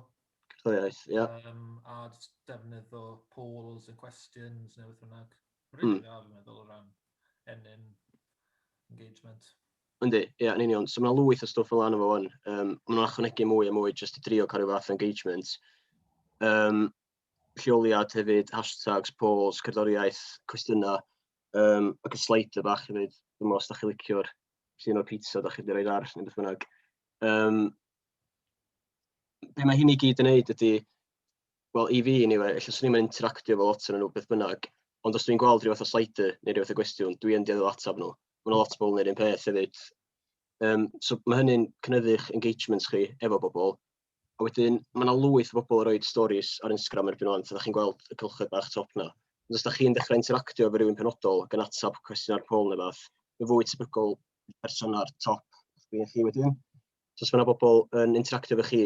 Cerddoriaeth, ie.
Yeah. Um, a
defnyddio polls a questions neu beth bynnag. Rydyn ni'n dda, fi'n meddwl, o ran ennyn engagement. Yndi,
ie, yeah, yn union. So mae yna lwyth o stwff fel yna fo fan. Um, mae yna achwnegu mwy a mwy jyst i drio cael rhyw fath engagement. Um, lleoliad hefyd, hashtags, polls, cerddoriaeth, cwestiynau, um, ac y slider bach hefyd, dwi'n meddwl os da chi licio'r llun o'r pizza, da chi wedi rhoi ar, neu beth bynnag. Um, be mae hyn i gyd yn neud ydy, wel, i fi, anyway, efallai swn i'n interactio efo lot yn nhw, beth bynnag, ond os dwi'n gweld rhywbeth o slider neu rhywbeth o gwestiwn, dwi yn dioddol ateb nhw. Mae'n lot o bobl yn neud un peth hefyd. Um, so mae hynny'n cynyddu'ch engagements chi efo bobl, A wedyn, mae yna lwyth o bobl yn rhoi stories ar Instagram erbyn o'n, so da chi'n gweld y cylchoedd bach top na. Ond os da chi'n dechrau interactio efo rhywun penodol gan atab cwestiwn ar pol neu fath, mae fwy tebygol person ar top sgrin chi wedyn. So os mae yna bobl yn interactio efo chi,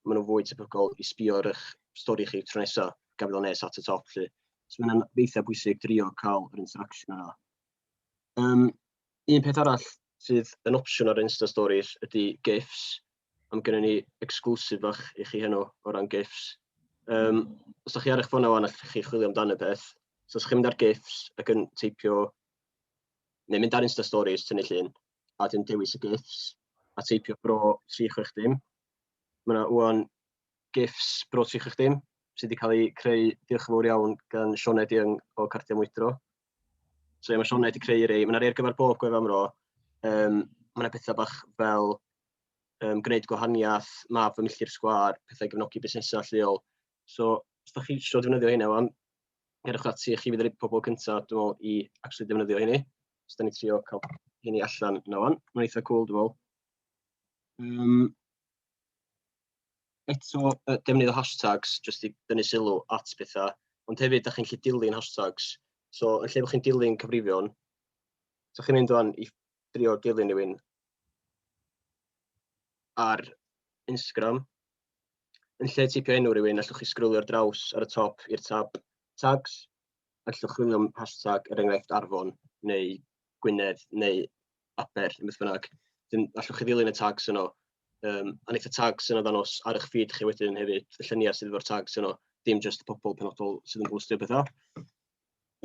maen nhw'n fwy tebygol i sbio ar eich stori chi tro nesaf gan fod o'n nes at y top. Lly. So mae'n eitha bwysig drio cael yr interaction yna. Um, Un peth arall sydd yn opsiwn ar Insta Stories ydy GIFs. Am gynnu ni exclusive fach i chi heno o ran GIFs. Um, os ydych chi ar eich ffôn awan, allwch chi chwilio amdano peth. So os ydych chi'n mynd ar GIFs ac yn teipio, neu mynd ar Insta Stories, tynnu llun, a dyn dewis y GIFs, a teipio bro 36 dim. Mae yna uan GIFs bro 36 dim, sydd wedi cael eu creu, diolch yn fawr iawn, gan Sioned Young o Cardiau Mwydro. So ie, mae Sionna wedi creu rei. Mae yna rei ar gyfer bob gwefan fro. Um, mae yna pethau bach fel um, gwneud gwahaniaeth, map fy milltir sgwar, pethau gefnogi busnesau lleol. So, os da chi eisiau defnyddio hynny, wan, gerwch ati, chi fydd yr pobl cyntaf, dwi'n meddwl, i actually defnyddio hynny. Os da ni trio cael hynny allan na wan, mae'n eitha cool, dwi'n meddwl. Um, Eto, yy, defnyddio hashtags jyst i dynnu sylw at pethau, ond hefyd da chi'n gallu dilyn hashtags. So, yn lle bod chi'n dilyn cyfrifion, so chi'n mynd o'n i drio dilyn rhywun ar Instagram, yn lle tipio enw rhywun, allwch chi sgrwlio'r draws ar y top i'r tab tags, allwch chwilio am hashtag, er enghraifft, Arfon, neu Gwynedd, neu Aber, neu beth bynnag. Wedyn, allwch chi ddilyn y tags yno. Um, a wneud y tags yno ddanos ar eich feed chi wedyn hefyd, y lluniau sydd efo'r tags yno, dim jyst y pobl penodol sydd yn bwstio bethau.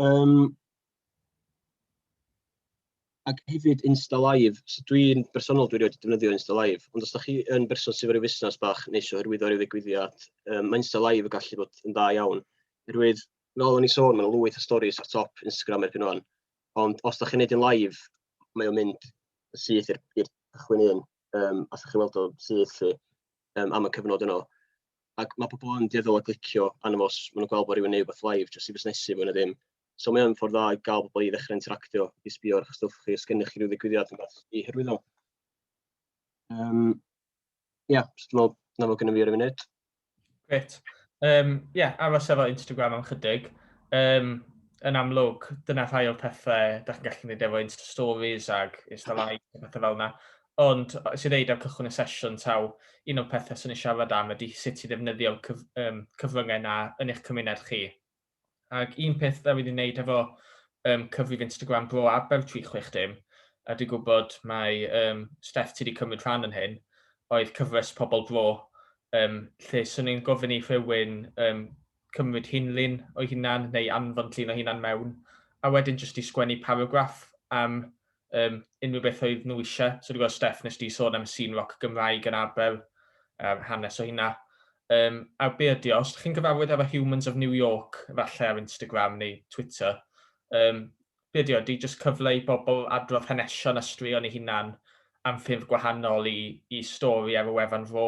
Um, ac hefyd Insta Live. So dwi'n bersonol dwi'n rhaid defnyddio Insta Live, ond os da chi yn berson sydd wedi fusnes bach neu eisiau hyrwyddo rhyw ddigwyddiad, um, mae Insta Live yn gallu bod yn dda iawn. Hyrwyd, fel o'n i sôn, mae'n lwyth o stories ar top Instagram erbyn o'n. Ond os da chi'n neud yn live, mae o'n mynd syth i'r cychwyn un, um, os da chi'n weld o syth lli, um, am y cyfnod yno. Ac mae pobl yn dieddol o glicio anna fos, maen nhw'n gweld bod rhywun neud beth live, jyst i fusnesu fwy na ddim. So mae o'n ffordd dda i gael pobl i ddechrau interactio, i sbio ar eich stwff chi, os gennych chi rhyw ddigwyddiad yn fath i hyrwyddo. Um, Ia, dwi'n meddwl 'na fo gynna fi ar y funud. Grêt.
Yym ie, aros efo Instagram am chydig. Yym yn amlwg, dyna rhai o'r pethau da chi'n gallu gwneud efo Insta Stories ac Insta Live a pethau fel yna. Ond os i ddeud ar cychwyn y sesiwn taw, un o'r pethau sy'n ei siarad am ydy sut i ddefnyddio'r cyf, um, cyfryngau yna yn eich cymuned chi. Ac un peth ddaw i ni wneud efo um, cyfrif Instagram Bro Aber 360, a dwi'n gwybod mae um, Steph ti wedi cymryd rhan yn hyn, oedd cyfres Pobl Bro, um, lle swn i'n gofyn i rhywun um, cymryd hunlun o'i hunan neu anfon llun o hunan mewn, a wedyn jyst i sgwennu paragraff am um, unrhyw beth oedd nhw eisiau. So dwi'n gweld Steph nes di sôn am y sîn roc Gymraeg yn Abel, um, hanes o hynna. Um, a be ydy, os ydych chi'n gyfarwydd efo Humans of New York, falle ar Instagram neu Twitter, um, be ydy, ydy jyst cyfle i bobl adrodd hanesion a straeon ei hunan am ffyrdd gwahanol i, i stori ar y wefan fo.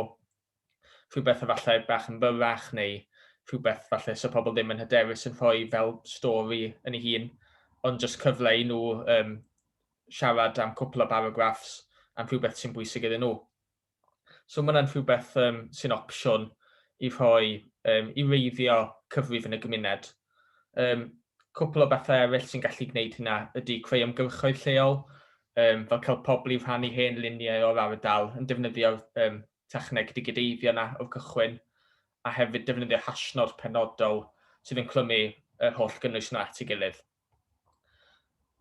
rhywbeth efallai bach yn fyrrach neu rhywbeth falle sa pobl ddim yn hyderus yn rhoi fel stori yn ei hun, ond jyst cyfle i nhw um, siarad am cwpl o baragraffs am rhywbeth sy'n bwysig iddyn nhw. So mae hwnna'n rhywbeth um, sy'n opsiwn i rhoi um, i reiddio cyfrif yn y gymuned. Yym, cwpl o bethau eraill sy'n gallu gwneud hynna ydy creu ymgyrchoedd lleol, um, fel cael pobl i rhannu hen luniau o'r ardal yn defnyddio'r um, techneg digideiddio yna o'r cychwyn, a hefyd defnyddio hashnod penodol sydd yn clymu yr holl gynnwys yna at ei gilydd.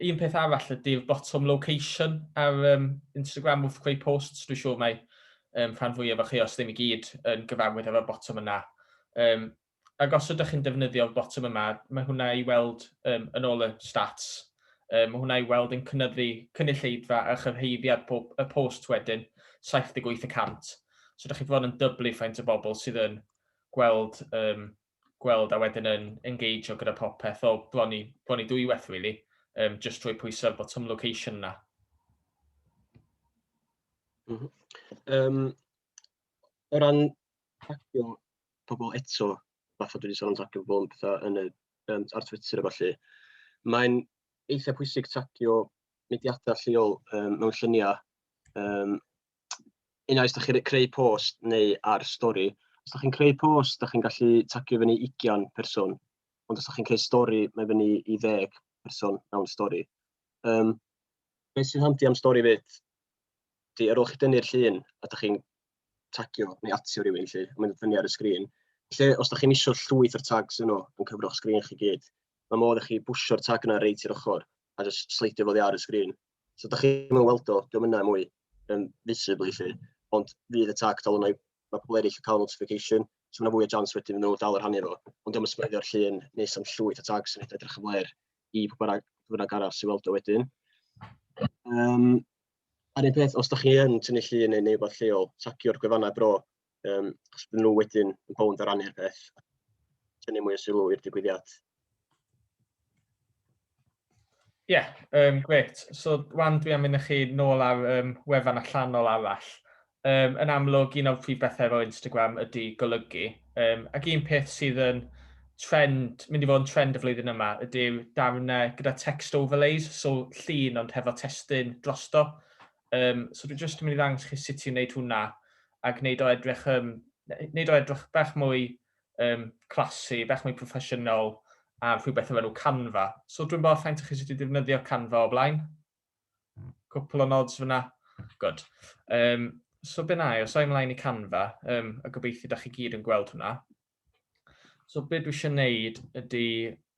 Un peth arall ydy'r bottom location ar um, Instagram wrth creu posts. Dwi'n siŵr mae um, rhan fwyaf o chi, os ddim i gyd, yn gyfarwydd efo'r bottom yna. Um, ac os ydych chi'n defnyddio'r botwm yma, mae hwnna i weld um, yn ôl y stats, um, mae hwnna i weld yn cynyddu cynulleidfa a chyrhaeddiad po y post wedyn, 78 y cant. So ydych chi fod yn dyblu faint o bobl sydd yn gweld, um, gweld a wedyn yn engage o gyda popeth o bron i, bron i dwywaith, really, um, just trwy pwysau ar botwm location yna. Mm -hmm.
um, o ran tagio pobl eto, fatha dwi 'di sôn am tagio pobl yn petha yn y yym ar Twitter a ballu, mae'n eitha pwysig tagio mudiadau lleol yym mewn lluniau yym unai os dach chi'n creu post neu ar stori. Os dach chi'n creu post, dach chi'n gallu tagio fyny 20 person, ond os dach chi'n creu stori, mae fyny i 10 person mewn stori. Yym beth sy'n handi am stori 'fyd Felly, ar ôl chi dynnu'r llun a da chi'n tagio neu atio rhywun, lle, a mae'n fyny ar y sgrin, lle, os da chi'n isio llwyth o'r tags yno yn cyfroch sgrin chi gyd, mae modd i chi bwsio'r tag yna reit i'r ochr a just sleidio fo ar y sgrin. So da chi'n weld o, diolch yna mwy um, visibly chi, ond fydd y tag dal yna i mae pobl eraill yn cael notification, so mae'n fwy o jans wedyn nhw dal yr hannu fo. Ond diolch yn spreidio'r llun nes am llwyth o tags yn edrych yn flair i pwy bynnag, pwy bynnag arall sy'n weld o wedyn. Um, a'r un peth, os da chi yn tynnu llun neu neu wbeth lleol, tagio'r gwefannau bro, um, achos bydden nhw wedyn yn bownd ar rannu'r peth, tynnu mwy o sylw i'r digwyddiad. Ie,
yeah, um, gret. So, wan dwi am mynd â chi nôl ar um, wefan allanol arall. Um, yn amlwg, un o'r prif bethau efo Instagram ydy golygu. Um, ac un peth sydd yn trend, mynd i fod yn trend y flwyddyn yma, ydy'r darnau gyda text overlays, so llun ond hefo testyn drosto. Um, so dwi'n just yn mynd i ddangos chi sut i'n wneud hwnna a gwneud o edrych, um, wneud o edrych bach mwy um, classy, bach mwy proffesiynol a rhywbeth efo nhw Canva. So dwi'n bod rhaid i chi sut i ddefnyddio Canva o blaen. Cwpl o nods fyna. Good. Um, so be na i, os o'i mlaen i Canva, um, a gobeithio da chi gyd yn gweld hwnna. So be dwi eisiau gwneud ydy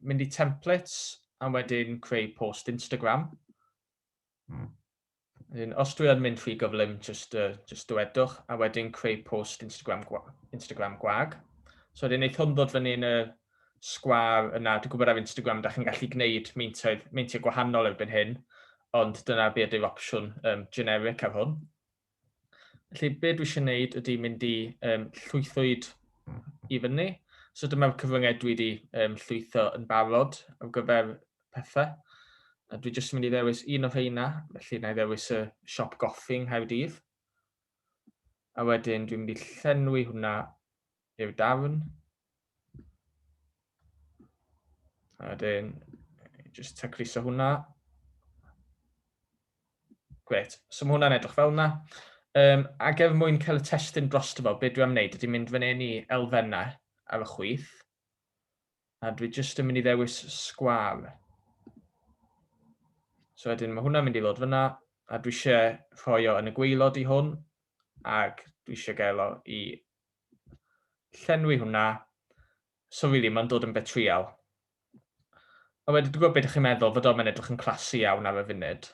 mynd i templates a wedyn creu post Instagram. Wedyn, os dwi yn mynd rhy gyflym, just, uh, just dywedwch, a wedyn creu post Instagram, Instagram gwag. So wedyn, wneud hwn ddod fyny yn y sgwâr yna. Dwi'n gwybod ar Instagram da chi'n gallu gwneud meintoedd, meintiau gwahanol erbyn hyn, ond dyna be ydy'r opsiwn um, generic ar hwn. Felly be dwi eisiau gwneud ydy mynd i um, llwythwyd i fyny. So dyma'r cyfryngau dwi wedi um, llwytho yn barod ar gyfer pethau. A dwi jyst yn mynd i ddewis un o rheina, felly na i ddewis y siop goffi yng Nghaerdydd. A wedyn dwi'n mynd i llenwi hwnna i'w dafn. A wedyn, just tacluso hwnna. Gret, so mae hwnna'n edrych fel yna. Um, a gef mwyn cael y testyn dros fo, beth dwi am wneud ydy mynd fan hyn i elfennau ar y chwyth. A dwi jyst yn mynd i ddewis sgwar. So wedyn mae hwnna'n mynd i ddod fyna, a dwi eisiau rhoi o yn y gweilod i hwn, ac dwi eisiau gael o i llenwi hwnna. So really, mae'n dod yn betrial. A wedyn dwi'n gwybod beth ydych chi'n meddwl, fod o'n edrych yn classy iawn ar y funud.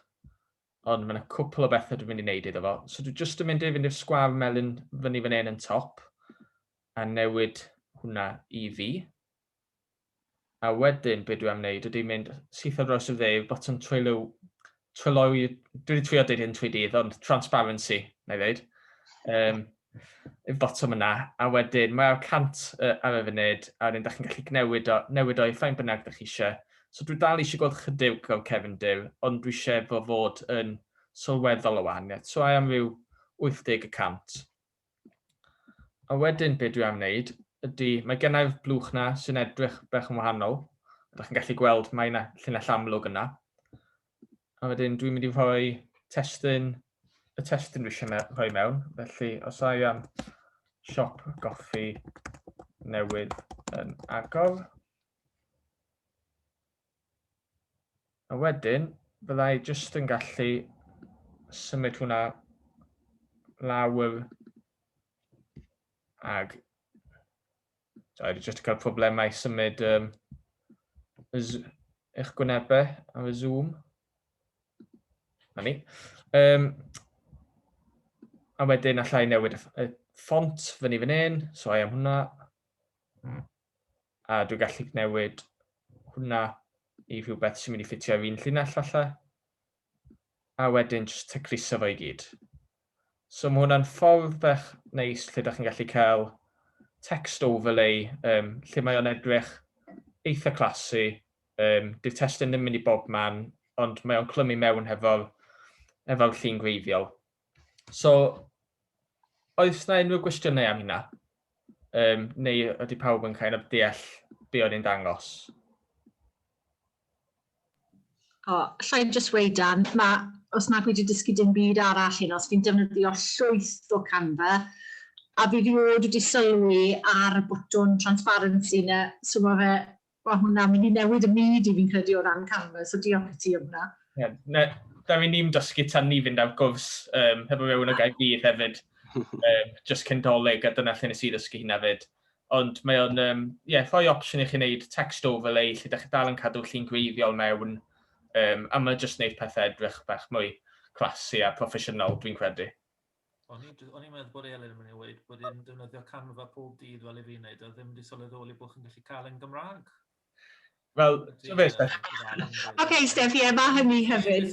Ond mae'n cwpl o bethau dwi'n mynd i wneud iddo fo. So dwi'n just yn mynd i fynd i'r sgwar melyn fyny fan hyn yn top. a newid hwnna i fi. A wedyn, be dwi am wneud ydy mynd syth ar draws y dde i'r botwm twylio, twylio, dwi wedi twylio dweud hyn trwy dydd, ond transparency, na i ddeud. Um, i'r botwm yna, a wedyn mae'r cant uh, ar y funud, a wedyn da chi'n gallu newid o, newid o i ffain bynnag da chi eisiau. So dwi dal eisiau gweld chydig o'r Kevin Dyr, ond dwi eisiau fo fod yn sylweddol o wahaniaeth. So I am rhyw 80 y cant. A wedyn be dwi am wneud ydy, mae gennau'r blwch na sy'n edrych bach yn wahanol. Ydych chi'n gallu gweld mae yna llinell amlwg yna. A wedyn dwi'n mynd i rhoi testyn, y testyn dwi eisiau rhoi mewn. Felly os I am siop goffi newydd yn agor, A wedyn, bydda i jyst yn gallu symud hwnna lawr ag so, i jyst cael problemau symud um, eich gwynebau ar y Zoom. Na ni. Um, a wedyn allai newid y ffont fyny fan hyn, so i am hwnna. a dwi'n gallu newid hwnna i rhywbeth sy'n mynd i ffitio i'r un llinell falle, a wedyn jyst tecryso fo i gyd. So mae hwnna'n ffordd bach neis lle da chi'n gallu cael text overlay, um, lle mae o'n edrych eitha clasu, um, dy'r testyn ddim mynd i bob man, ond mae o'n clymu mewn hefo'r efo llun gwreiddiol. So, oes na unrhyw gwestiynau am hynna? Um, neu ydy pawb yn cael of deall be o'n i'n dangos?
O, oh, allai just weud dan, mae, os nad wedi dysgu dim byd arall hyn, os fi'n defnyddio llwyth o Canva, a fi fi oed wedi sylwi ar y botwn transparency na, so mae fe Wel hwnna, mynd i newid y myd i fi'n credu o ran canvas, so diolch i ti am hwnna. Ie, na, da fi ni'n
dysgu tan ni fynd ar gwrs um, hefo mewn o Gaerdydd hefyd, um, just cyn doleg, a dyna lle nes i ddysgu hynna fyd. Ond mae o'n um, yeah, rhoi opsiwn i chi wneud text overlay lle da chi dal yn cadw llun gwreiddiol mewn, um, a mae jyst wneud pethau edrych bach mwy classy a proffesiynol, dwi'n credu. O'n i'n
o'n i'n meddwl bod Elin yn mynd i weud bod e'n defnyddio Canva pob dydd fel i fi wneud, a ddim wedi sylweddoli bod chi'n gallu cael e'n Gymraeg. Wel,
ti'n fe, Steph? OK,
Steph, ie, mae hynny hefyd.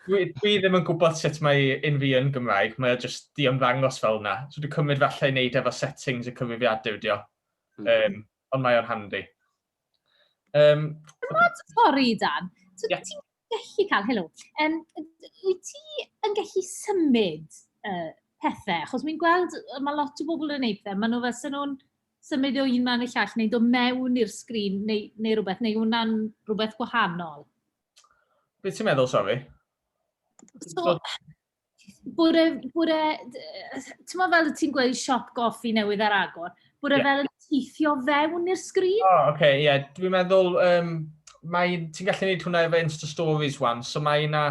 Dwi ddim yn gwybod sut mae un fi yn Gymraeg, mae o jyst di ymddangos fel yna. So dwi'n cymryd falle i wneud efo settings y cyfrifiadau ydi o. Um, ond mae o'n handi. Um,
Sori, Dan, ti'n yeah. gallu cael, helo, yym wyt ti yn gallu symud yy pethe? Achos wi'n gweld yy ma' lot o bobl yn wneud pethe, maen nhw fel 'sen nhw'n symud o un man i'r llall neu dod mewn i'r sgrin neu neu rywbeth, neu yw hwnna'n rywbeth gwahanol?
Be ti'n meddwl, sori?
So... Bore, bore, ti'n meddwl fel ti'n gweud siop goffi newydd ar agor, bore yeah. fel yn teithio fewn i'r sgrin? O, oh, oce, okay, ie. Yeah. Dwi'n
meddwl, um, mae, ti'n gallu gwneud hwnna efo Insta Stories wan, so mae yna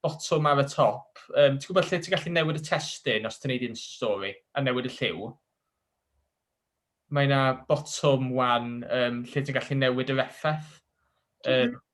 botwm ar y top. Um, ti'n gwybod lle ti'n gallu newid y testyn os ti'n gwneud Insta Story a newid y lliw? Mae yna botwm wan um, lle ti'n gallu newid yr effaith. Um,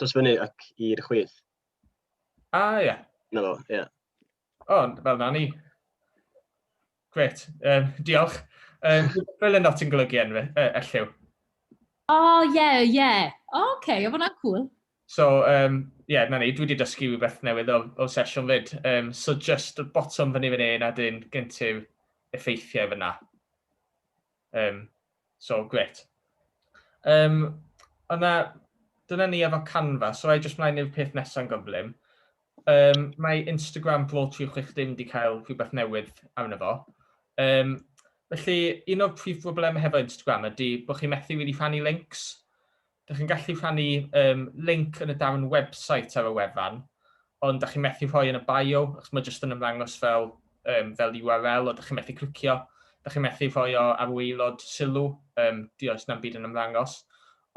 Dos fyny ac i'r chwith. A,
ah, ie. Na fo, ie.
O, oh,
fel na ni. Gret, um, diolch. Um, fel yna ti'n golygu enw, e, elliw. O,
oh, ie, yeah, ie. Yeah. O, oh, okay, o fanna'n cool. So, um,
yeah, na ni, dwi wedi dysgu rhywbeth newydd o, o sesiwn fyd. Um, so, just bottom fyny fyny na dyn gyntyw effeithiau fyna. Yym, so, grêt. Yym, ond na, dyna ni efo Canva, so ai jyst mlaen i'r peth nesaf yn gyflym. Yym, mae Instagram Pro 360 wedi cael rhywbeth newydd arno fo. Yym, felly, un o'r prif broblemau hefo Instagram ydy bod chi'n methu rili rhannu links. Dych chi'n gallu rhannu um, link yn y darn website ar y wefan, ond dych chi'n methu rhoi yn y bio, achos mae jyst yn ymddangos fel, um, fel URL, o dych chi'n methu clicio, dych chi'n methu rhoi o ar waelod sylw, um, di oes na'n byd yn ymddangos.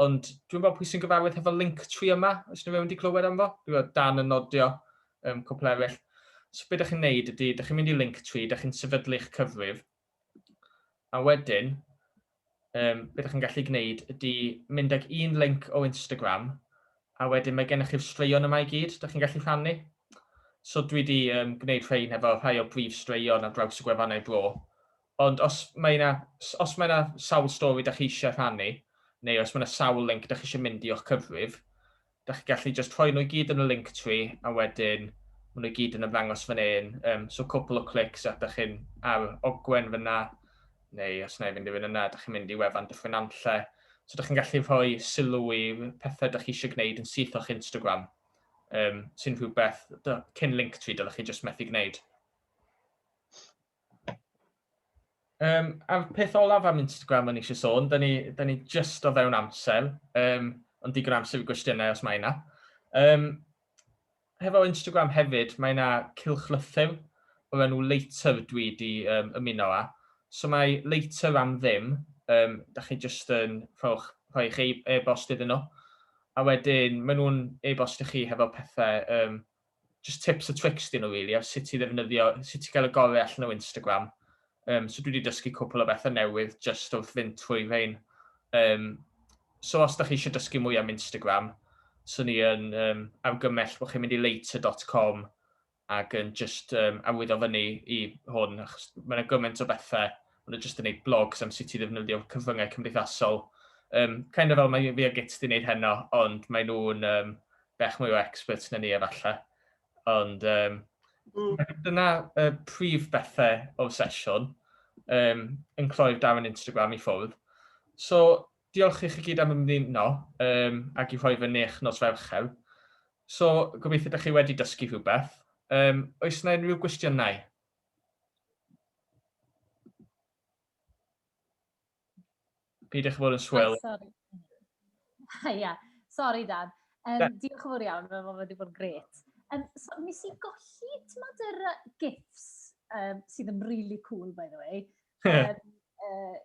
Ond dwi'n gwybod pwy sy'n gyfarwydd hefo link tri yma, os ydych chi'n wedi clywed am fo, dwi'n gwybod dan yn nodio um, cwpl eraill. So beth ydych chi'n neud ydy, ydych chi'n mynd i link tri, ydych chi'n sefydlu'ch cyfrif, A wedyn, um, beth ydych chi'n gallu gwneud ydy mynd ag un link o Instagram, a wedyn mae gennych chi'r straeon yma i gyd, ydych chi'n gallu rhannu. So dwi wedi um, gwneud rhain efo rhai o brif straeon ar draws y gwefannau bro. Ond os mae yna, os mae yna sawl stori ydych chi eisiau rhannu, neu os mae yna sawl link ydych chi eisiau mynd i o'ch cyfrif, Da chi gallu jyst rhoi nhw i gyd yn y Linktree a wedyn maen nhw i gyd yn ymddangos fan hyn. Um, so cwpl o clics a da chi'n ar ogwen fyna, neu os na i fynd i fynd yna, da chi'n mynd i wefan Dyffryn Nanlle. So da chi'n gallu rhoi sylw i pethau da chi eisiau gwneud yn syth o'ch Instagram, um, sy'n rhywbeth cyn Linktree dylech chi jyst methu gwneud. Um, a'r peth olaf am Instagram o'n eisiau sôn, da ni, da ni just o fewn amser, um, ond digon amser i gwestiynau os mae yna. Um, hefo Instagram hefyd, mae yna cilchlythyr o'r enw Later dwi wedi um, ymuno â. So mae Later am ddim, um, da chi just yn rhowch, rhoi eich e-bost iddyn nhw. A wedyn, maen nhw'n e-bost i chi hefo pethau um, jyst tips a tricks dyn nhw rili ar sut i ddefnyddio, sut i gael y gorau allan o Instagram. Um, so dwi wedi dysgu cwpl o bethau newydd jyst wrth fynd trwy fein. Um, so os da chi eisiau dysgu mwy am Instagram, so ni yn um, argymell bod chi'n mynd i later.com ac yn just um, awyddo fyny i hwn, achos mae'n gymaint o bethau Ond nhw jyst yn neud blogs am sut i ddefnyddio cyfryngau cymdeithasol. Um, kind of fel mae fi a Git di wneud heno, ond mae nhw'n um, bech mwy o experts na ni efallai. Ond um, mm. dyna uh, prif bethau o'r sesiwn um, yn cloi'r darn Instagram i ffwrdd. So, diolch i chi gyd am ymddyno um, ac i rhoi fy nech nos ferchel. So, gobeithio ydych chi wedi dysgu rhywbeth. Um, oes yna unrhyw gwestiynau? Peidiwch fod yn swil. Oh, sorry. Ia, yeah.
sori Dan. Um, yeah. Diolch yn fawr iawn, mae wedi bod yn gret. Um, so, nes i golli, ti'n modd, yr uh, gifs um, sydd yn really cool, by the way. um, uh,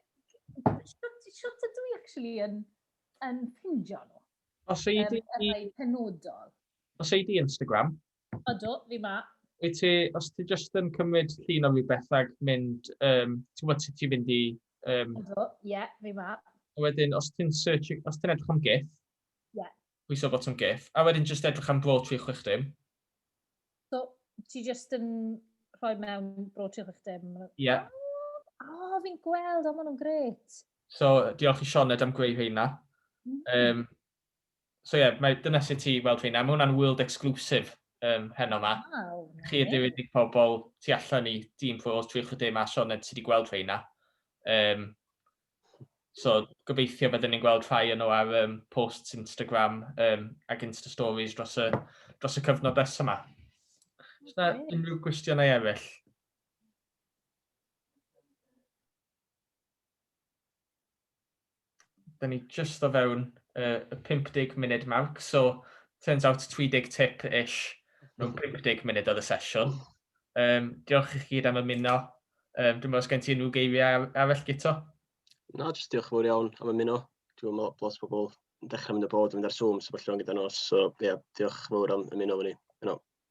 Siwt ydw i, actually, yn, yn pindio nhw. Os ei di...
Um, penodol.
Os ei di
Instagram, Ydw, fi
ma. Wyt ti, os ti
jyst yn cymryd llun o fi bethag, mynd, um, ti'n gwybod sut ti'n fynd i... Um... Ydw, ie,
yeah, fi ma. A wedyn, os ti'n
search, os ti'n edrych am GIF, yeah.
pwyso bot yn
GIF, a wedyn jyst edrych am bro 360. So,
ti jyst yn rhoi mewn bro 360? Ie. Yeah.
O, oh,
fi'n gweld, o, maen nhw'n gret. So, diolch i
Sioned am greu rheina. Um, so ie, mae, dyna sut ti weld fi. Na, mae hwnna'n world exclusive um, heno yma. Wow, Chi ydyw unig pobl tu allan i dîm ffwrdd trwy chydau yma, Sioned, ti wedi gweld rhai yna. Um, so, gobeithio byddwn ni'n gweld rhai yno ar um, posts Instagram um, ac Insta Stories dros y, dros y cyfnod nes yma. Oes yna unrhyw gwestiynau eraill? da ni just o fewn uh, y 50 munud marc, so turns out 30 tip ish mewn 50 munud oedd y sesiwn. Um, diolch i chi gyd am ymuno. Um, dwi'n meddwl os gen ti unrhyw geiriau arall gyto? Na, jyst
diolch fawr iawn am ymuno. Dwi'n meddwl bod lot o bobl yn dechrau mynd y bod yn mynd ar Zoom, so bod llawn gyda nos. So, ie, yeah, diolch fawr am ymuno fy ni. Yno.